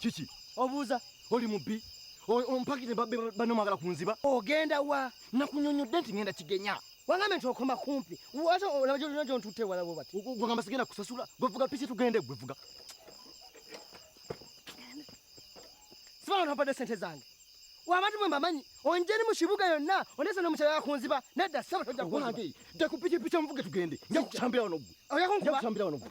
kiki obuuza oli mubbi ompakire banno mwagala kunziba ogenda wa nakunyonyodde nti ngenda kigenya wangambe nti okoma kumpi wate olaba gyolina gyontutte wala bwe bati gwegamba sigenda kusasula gwevuga piki tugende gwevuga sibana nobadde sente zange wabati mwe mbamanyi onjeni mu kibuga yonna onese nomukyala yakunziba nedda saba tojja kuwange ja ku pikipiki omuvuge tugende nja kukutambira wano gwe oyakunkubira wano gwe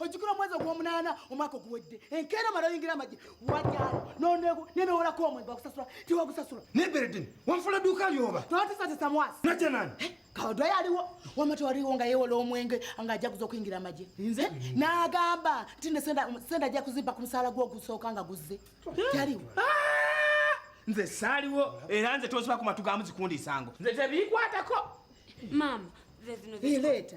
ojjukira omwezi ogwomunaana omwaka oguwedde enkeera omala oyingira amagye wajalo nonego nenewolako omwezi bakusasula tiwagusasula neberedin wanfula duuka lyoba notisatisa mwasi najanani eh, kawadwa yaliwo wama tewaliwo nga yewola omwenge nga ajaguza okuyingira amagye nze nagamba nti ne senda ajja kuzimba ku musaala gwogusooka nga guzze taliwo ah! nze saaliwo era nze toziba ku matu gamu zikundiisango nze tebiikwatako maama leeta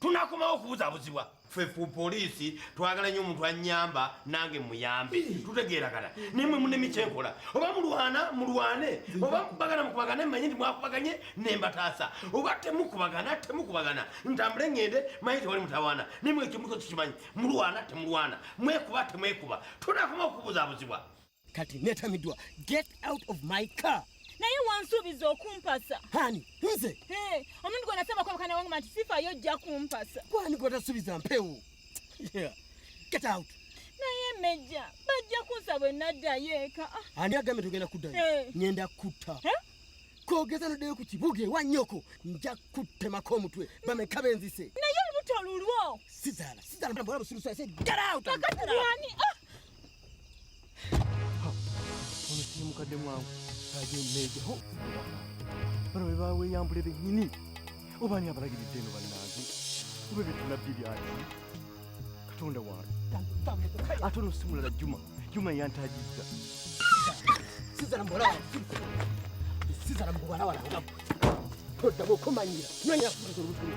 tunakomawo okubuzabuzibwa ffe ku poliisi twagala nnyo omuntu anyamba nange muyambe tutegeeragana naye mwe munemi kyenkola oba mulwana mulwane oba mukubagana mukubagane manye nti mwakubaganye nembataasa oba temukubagana temukubagana ntambule ngende manye tewali mutawaana naye mwe ekimuko kikimanyi mulwana temulwana mwekuba temwekuba tunakomawo okubuzabuzibwa kati netamidwa get out of my car naye wansuubiza okumpasa hani nze omuntu gwenasaba kwabakana wange manti sifayo ojja kumpasa kwani gwatasuubiza mpewo get out naye meja bajja kunsa bwe naddayo eka ah. ani agambe tugenda kuddayo ngenda kutta kogeza noddeyo ku kibuga ewa nyoko nja kuttemako omutwe bameka benzise naye olubuto lulwo sizaala sizaala bwala busirusa said get out kakati wani ah. mukadde mwangu aje mmeeja ho bano be baweeyambule bennyini oba ani abalagiridde eno bannange oba ebyo tunabbi byaki katonda wange ate ono si mulala juma juma yantagizza sizala muwala sizala muwala wala oddamu okumanyira nyonya kutuza olutulu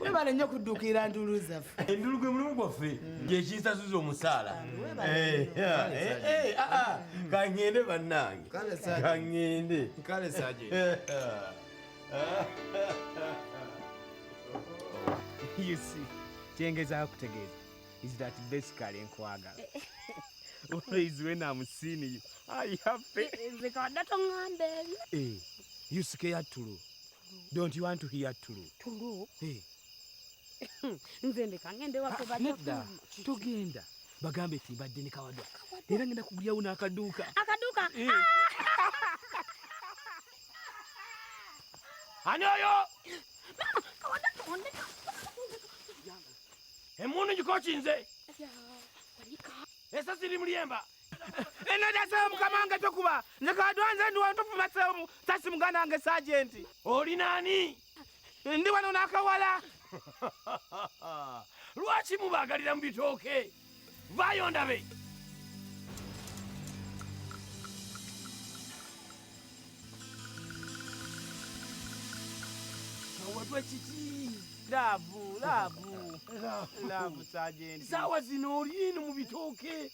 webale nnyo kudduukira nduulu zaffe enduulu gwe mulimu gwaffe gyekinsasuza omusaala kangende bannange kangende kale saje you see kyengezako kutegeeza is that basically nkwagala always when I'm seeing you I happy nze kawadde tongamba ebyo eh, you scared tulu Don't you want to hear true? True. Hey. Nze ndeka ngende wako ah, bali. Nedda. Tugenda. Bagambe eti mbadde ne kawadwa. Era ngenda kugulyawo n'akaduuka. Akaduuka. Eh. Ah! Ani oyo? Mama, kawadwa tondeka. Emundu ngikokinze. Esasi limuliyemba. enadasewo mukama wange tokuba nze kadwanze ndi wano tofuma seomu sasi muganda wange sajenti oli nani ndi wano nakawala lwaki mubagalira mu bitooke vayo ndabe wetwe kiki laavu laavu laavu sajenti saawa zino olinu mu bitooke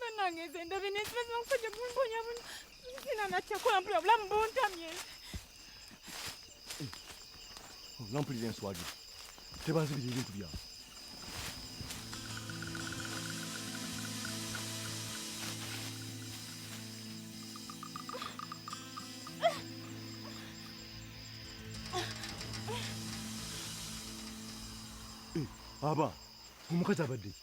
Banange nze ndabye naye sibazi bakusajja kumponya buno. Sina natya kola mpula obulamu buntamye. Nampulira enswagi. Tebanzibira ebintu byange. aba omukazi abadde ki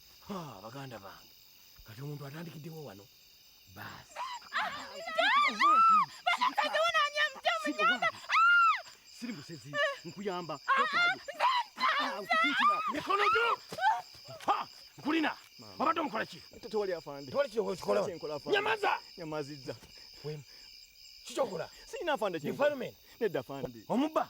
baganda bange kati omuntu atandikiddewo wano baasi siri musezi nkuyamba mikono gyo nkulina wabadde omukola ki tewali afande tewali kikola nyamaza nyamazizza kikyokola sirina afande kifalme nedda afande omubba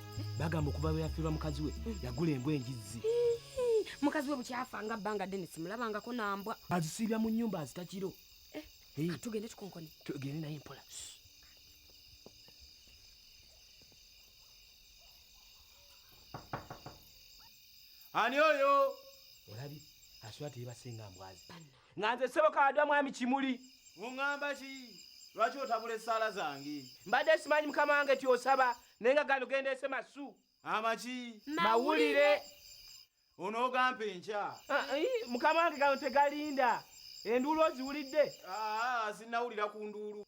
bagamba okuva lwe yafiirwa mukazi we hmm. yagula embwa enjizzi mukazi we bukyafa nga bbanga ddene simulabangako nambwa azisiibya mu nyumba azitakiro eh, ah, tugende tukonkone tugende naye mpola ani oyo olabi asula teyebasinga mbwazi nga nze sebo kadwa mwami kimuli ungamba ki lwaki otabula esaala zange mbadde simanyi mukama wange tyosaba naye nga gano gendeese masu amaki mawulire onoogampa enkya ah, eh, mukama wange gano tegalinda enduulu oziwulidde ah, sinnawulira ku nduulu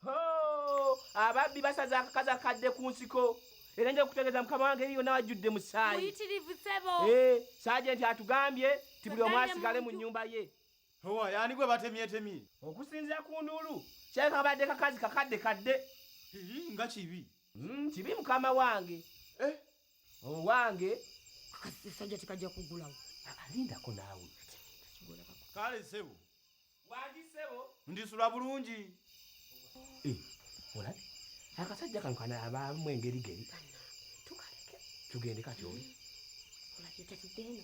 ababbi basaza akakaza kadde ku nsiko era nja kutegeeza mukama wange eri yonna wajjudde musaayi eh, saaje nti atugambye ti buli omu asigale mu nnyumba ye owa yani gwe batemyetemye okusinzira ku nduulu kyeka badde kakazi kakadde kadde nga kibi Mm, kibi mukama wange eh? owange akasajja tekajja kugulawo alindako naawe kale sebo wandi sebo ndisula bulungi eh, olabe akasajja kano kanaabamu engeri geri tugende katyoli mm. olabe tatuddeeno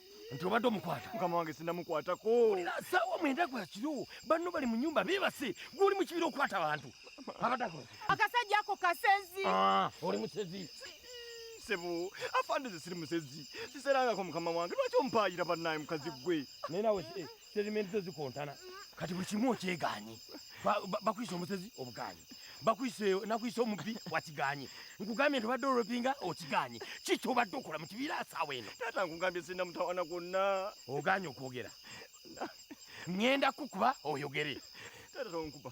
nti obadde omukwata mukama wange sinamukwatako olina saawa mwenda gwa kiro banno bali mu nyumba beebase gwoli mu kibira okukwata abantu abadako akasajja ako kasezi ah, oli musezi sebo afande ze siri musezi siserangako mukama wange lwaki omupaayira bannaye mukazi gwe naye nawe eh, statement zo zikontana kati buli kimu okyegaanyi bakuyisa omusezi obugaanyi bakuyisa nakuyisa omubbi wakigaanyi nkugambye nti obadde olopinga okigaanyi kiki obadde okola mu kibiira asaawa eno taata nkugambye sirina mutawana gwonna ogaanyi okwogera ŋŋenda kukuba oyogere taata tonkuba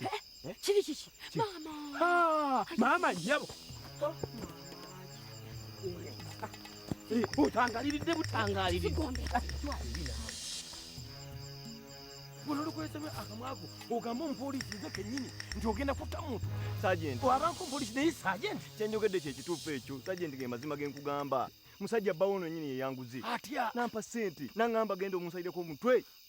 Eh? Kiri kiki? Mama. Ha, mama yabo. Eh, utangaliridde butangaliridde. Buno lukwesebe akamwago ogamba omupoliisi nze kennyini nti ogenda kutta muntu. Sajenti. Wabanko omupoliisi naye sajenti. Kyenjogedde kye kituufu ekyo. Sajenti ge mazima ge nkugamba. Musajja bbawo ono yennyini yeyanguzi. Atya? Nampa ssente. Nangamba genda omunsalireko omutwe.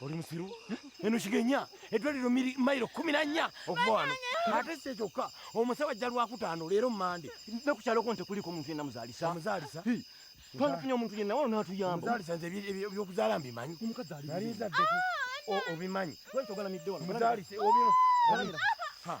oli musiru eno kigenya eddwaliro mayiro kumi na nnya okuva wano ate si ekyokka omusawo ajja lwakutaano leero mumande ne ku kyaloko nti kuliko omuntu yenna muzaalisa muzaalisa twandifunye omuntu yenna wano natuyamba muzaalisa nze ebyokuzaala mbimanyi omukazi ali obimanyi wali togalamidde wano muzaalisa obyo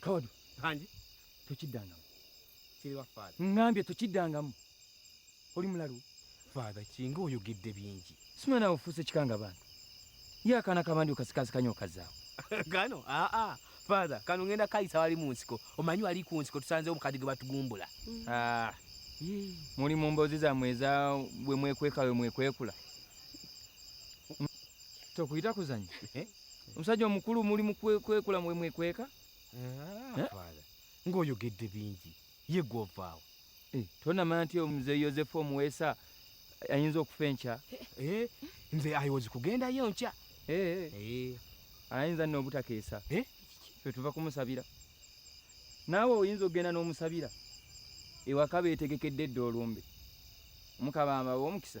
kawadu hanji tokiddangamu kiriwa faada ŋŋambye tokiddangamu oli mulalu faada kinga oyogedde bingi simana ofuuse kikanga bantu ye akaana kabandi okasikasikanya okazaawo kano aa faada kano ŋenda kayisa wali mu nsiko omanyi wali ku nsiko tusanzewo mukadi ge batugumbula mm. ah. muli mu mboozi zammwe eza bwe mwekweka we mwekwekula tokuyita kuzanya eh? omusajja omukulu muli mukwekula mwemwekweka ah, eh? ngaoyogedde bingi ye gwovaawo eh, tonamanya nti omuze yosefu omuweesa ayinza okufa enkya eh, nze ayozi kugendayo nkya ayinza nno obutakeesa fetuva kumusabira naawe oyinza okugenda n'omusabira ewaka beetegekedde edda olumbe omukabamba w'omukisa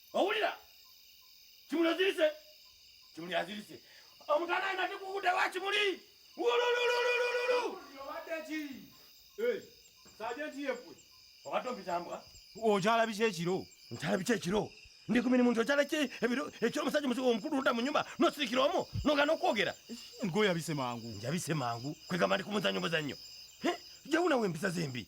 owulira kimuli ozirise kimuli azirise omutana ayina tikukude wa kimuli wululululululu obadde ki sajenti yefwe obadde ompitambwa okyala biki ekiro nkyala biki ekiro ndi ku mirimu nti okyala ki ebiro ekiro omusajja omusigo omukulu odda mu nyumba nosirikira omu nogana okwogera ngoyabise mangu njabise mangu kwegamba ndi ku muzannyo muzannyo jawunawo empisa zembi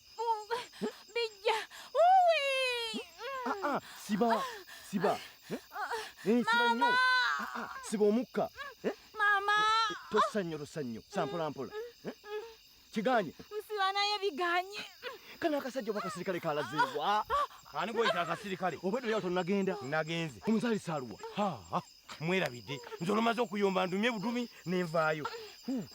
Bijja. Uwi. Ah, ah, siba. Siba. Eh? Eh, siba nyo. Ah, ah, siba omukka. Eh? Mama. Eh, tossa nnyo, tossa nnyo. Sampola mpola. Eh? Kiganye. Msiba naye biganye. Kano akasajja oba kasirikale kalazeebwa. Ani gweyita akasirikale? Obwedda yali tonagenda. Nagenze. Omuzaali saaluwa. Ha, ha. mwerabidde nze olumaze okuyomba ndumye budumi nenvaayo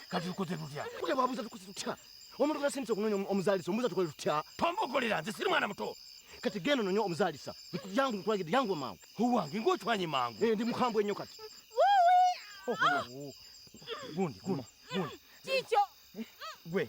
kati tukoze tutya kuja babuza tukoze tutya omuntu nasindise okunonya omuzaalisa omubuza tukole tutya tombokolera nze siri mwana muto kati genda ononye omuzaalisa yangu nkulagidde yangu amangu owange ngaotwanye mangu eh, ndi mukambwe ennyo kati gundi gundi gundi kikyo gwe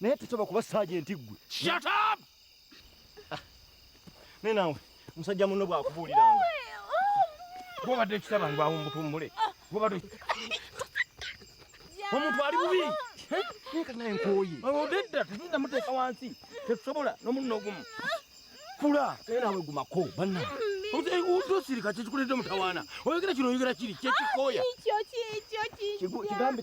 naye tusaba kuba sajenti ggwe shut up ah. naye nawe musajja munno bwakubuuliranga bwobadde ekitaba ngu awumbutumbule bwobadde omuntu ali bubi naye nkoye odedda tugenda muteeka wansi tetusobola nomunno ogumu kula naye nawe gumako banna tosirika kyekikuleeta omutawaana oyogera kino oyogera kiri kyekikooya kigambe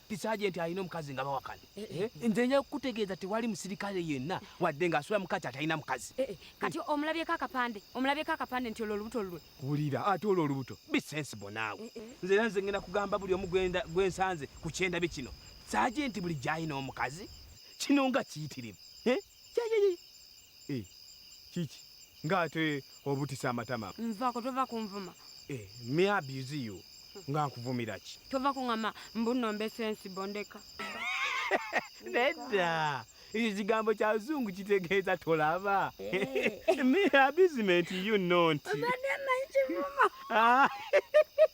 ti sajenti alina omukazi nga bawakana eh, eh, eh, nze nja kukutegeeza tewali musirikale yenna wadde nga asula mukati atalina mukazi kati omulabyeko akapande omulabyeko akapande nti olwo olubuto lulwe wulira ate olwo olubuto bisensibo naawe nze era nze ngenda kugamba buli omu gwensanze ku kyendabye kino sajenti buli gyalina omukazi kino nga kiyitirivu Eh, kiki ng'ate obutisa amatama nvako tova kunvuma eh, me abuse you nga nkuvumira ki tova kuŋama mbuno mbesensi bondeka nedda ekyo kigambo kya luzungu kitegeeza tolaba eh. me abusement you not ah.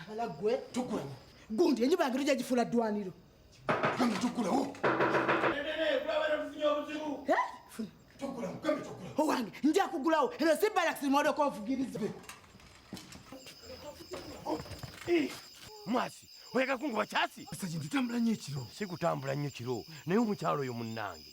abala gwe tukulaba gundi enjuba yange tujja gifuula ddwaniro gambe tukulawo owange nja kugulawo ero si balax modoka ovugiriza mwasi oyagala kunguba kyasi esaji ntitambula nnyo ekiro sikutambula nnyo kiro naye omukyalo oyo munnange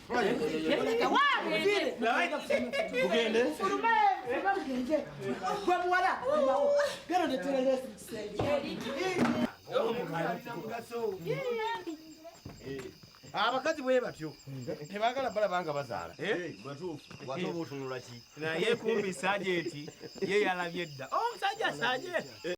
abakazi bwe batyo tebagala balaba nga bazaala eh? naye kumbi sajenti ye yalabye dda omusajja oh, sajenti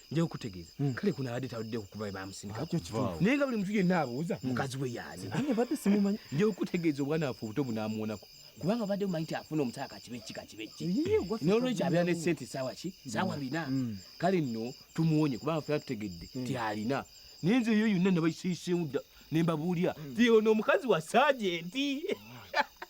nja okutegeeza hmm. kale kuno abadde tawudde kukuba we bamusindika naye nga buli mutu yenna abuuza hmm. mukazi we yaaze nja okutegeeza obwana waffe obuto bunaamuwonako kubanga badde mumanyi nti afuna omusala kakibe ki kakibe ki nolwekyo abeera ne sente saawa ki saawa hmm. bina kale nno tumuwonye kubanga fena tutegedde ti alina naye nze eyo yonna nabaisiiseemu dda nembabuulira ti ono omukazi wa sajenti